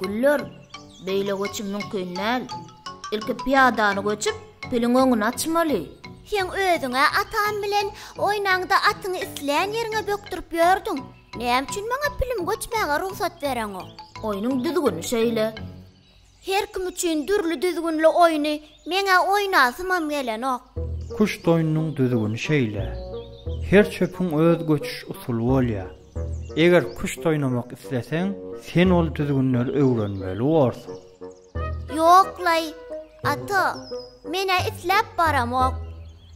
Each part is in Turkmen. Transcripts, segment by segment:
Güller, Beýle göçüm mümkin däl. Ilki pyýadany göçüp, piliň öňüni açmaly. Sen özüň-ä ataň bilen oýnaňda atyňy islän ýeriňe bökdürip ýördüň. Näme üçin maňa pilim göçmäge rugsat bereňok? Oýnuň düzgüni şeýle. Her kim üçin dürli düzgünli oýny meň-ä oýnasymam gelenok. Küşt oýnunyň düzgüni şeýle. Her çöpüň öz göçüş usuly bolýar. Eger küşt oýnamak isleseň, sen ol düzgünleri öwrenmeli borsuň. Ýok-laý, ata, men-ä isläp baramok.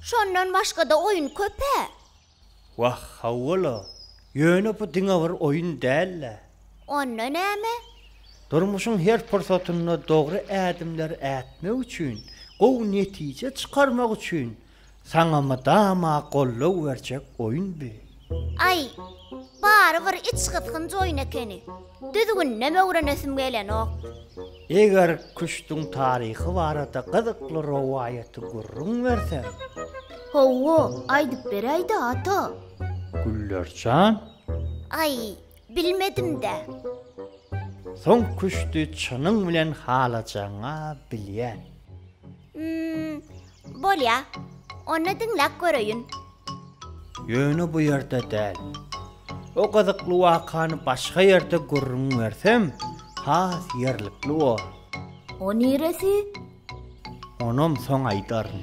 Şondan başga-da oýun köp-ä. Wah, hawa-la, ýöne bu diňe bir oýun däl-ä. Onda näme? Durmuşyň her pursatynda dogry ädimler ätmek üçin, gowy netije çykarmak üçin Saňa mydama gollow berjek oýun bi. Aý, bary bir içgysgynç oýun ekeni. Düzgündem öwrenesim gelenok. Eger küşdüň taryhy barada gyzykly rowaýaty gürrüň berseň. Hawa, aýdyp beräý-dä, ata. Güllerjan. Aý, bilmedim-dä. Soň küşdi çynyň bilen halajagyň-a bilýän. Hum, bolýa. Onda diňläp göreýin. Ýöne bu ýerde däl. O gyzykly wakany başga ýerde gürrüň bersem, has ýerlikli bor. O niresi? Onam soň aýdaryn.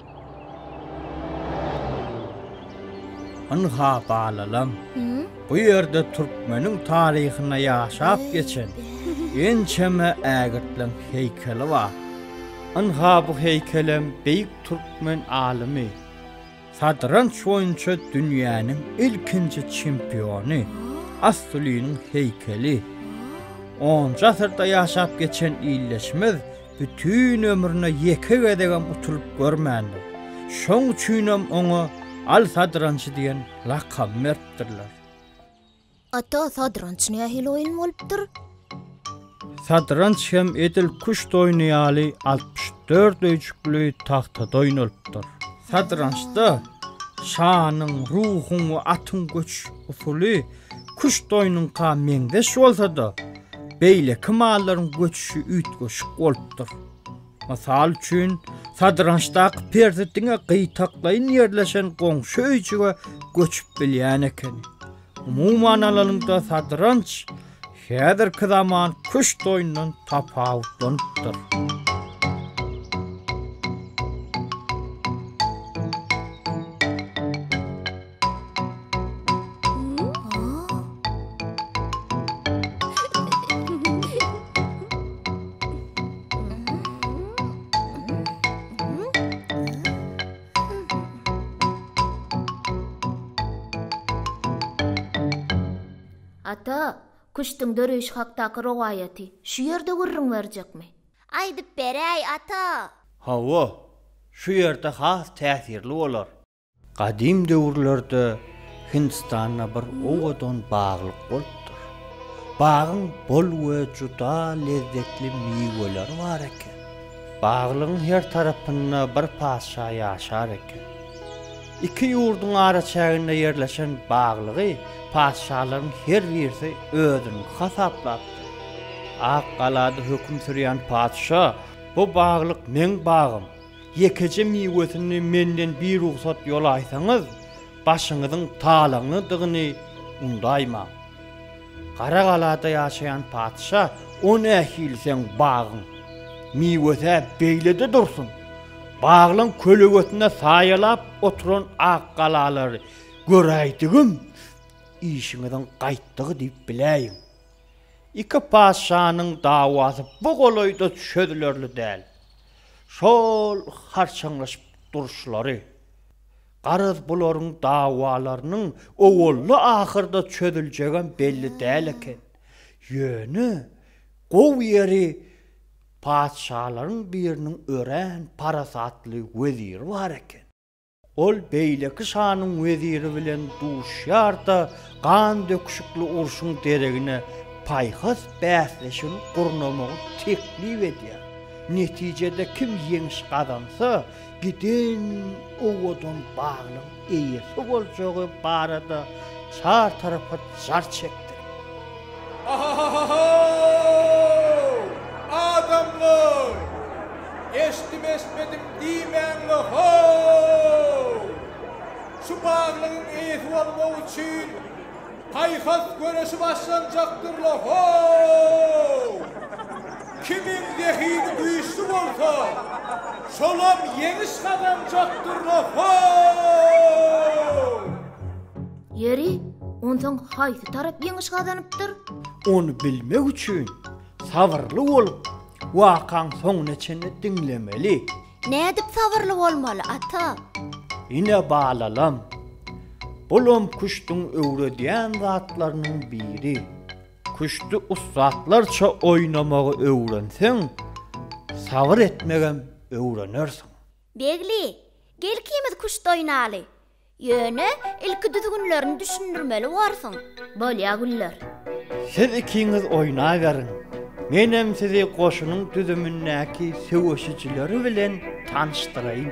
Ynha, balalam, bu ýerde türkmeniň taryhynda ýaşap geçen ençeme ägirtliň heýkeli bar. Ynha, bu heýkelem beýik türkmen alymy, satranç boýunça dünýäniň ilkinji çempiony Astulynyň heýkeli. Onunjy asyrda ýaşap geçen illeşimiz Bütin ömrüne ýeke gezegem utulyp görmändir. Şoň üçinem oňa Al sadrançy diýen lakamy beripdirler. Ata, sadranç nähili oýun bolupdyr? Sadranç hem edil küşt oýny ýaly altmyş dört öýjükli tagtada oýnalypdyr. Sadrançda şanyň, ruhuň we atyň göçüş usuly Küşt oýnuňka meňzeş bolsa-da, beýleki mallaryň göçüşi üýtgeşik bolupdyr. Mysal üçin, sadrançdaky perzi diňe gytaklaýyn ýerleşen goňşy öýjüge göçüp bilýän ekeni. Umuman alanyňda sadranç häzirki zaman küşt oýnundan tapawutlanypdyr. Ata, küştüň döreýşi hakdaky rowaýaty şu ýerde gürrüň berjekmi? Aýdyp beräý, ata! Hawa, şu ýerde has täsirli bolar. Gadym döwürlerde Hindistanda bir owadan baglyk bolupdyr. Bagyň bol we juda lezzetli miweleri bar eken. Baglygyň her tarapynda bir patyşa ýaşar eken. Iki ýurduň araçäginde ýerleşen baglygy patyşalaryň her birisi özüniňki hasaplapdyr. Ak galada höküm sürýän patyşa, Bu baglyk meň bagym. Ýekeje miwesini menden birugsat ýolaýsaňyz, başyňyzyň talaňlydygyny undaýmaň. Gara galada ýaşaýan patyşa, O nähili seň bagyň? Miwesi-ä beýlede dursun. Baglaň kölegesinde saýalap oturan ak galalary göräýdigim, işiňiziň gaýtdygy diýip biläýiň. Iki patyşanyň dawasy bu golaýda çözülerli däl. Şol harçaňlaşyp duruşlary, garaz bularyň dawalarynyň owalda-ahyrda çözüljegem belli däl eken. Ýöne gowy ýeri patyşalaryň biriniň örän parasatly weziri bar eken. Ol beýleki şanyň weziri bilen duşýar-da, gan döküşikli urşuň deregine paýhas bäsleşigini gurnamagy teklip edýär. Netijede kim ýeňiş gazansa, giden owadan baglyň eýesi boljagy barada çar tarapa jar çekdirýär. Ahahahahaw! Adamlar! Eşidim-eşitmedim diýmäň-le haw! Şu baglygyň eýesi bolmak üçin paýhas göreşi başlanjakdyr-la haw! Kimiň zehini güýçli bolsa, şolam ýeňiş gazanjakdyr-la haw! Ýeri, onsoň haýsy tarap ýeňiş gazanypdyr? Ony bilmek üçin, sabyrly bolup, wakaň soňuna çenli diňlemeli. Nädip sabyrly bolmaly, ata? Ine, balalam, bulam küşdüň öwredýän zatlarynyň biri. Küşdi ussatlarça oýnamagy öwrenseň, sabyr etmegem öwrenersiň. Begli, gel ikimiz küşt oýnaly. Ýöne, ilki düzgünlerini düşündirmeli borsuň. Bolýa, Güller. Siz ikiňiz oýnaberiň. Menem sizi goşunyň düzümindäki söweşijileri bilen tanyşdyraýyn.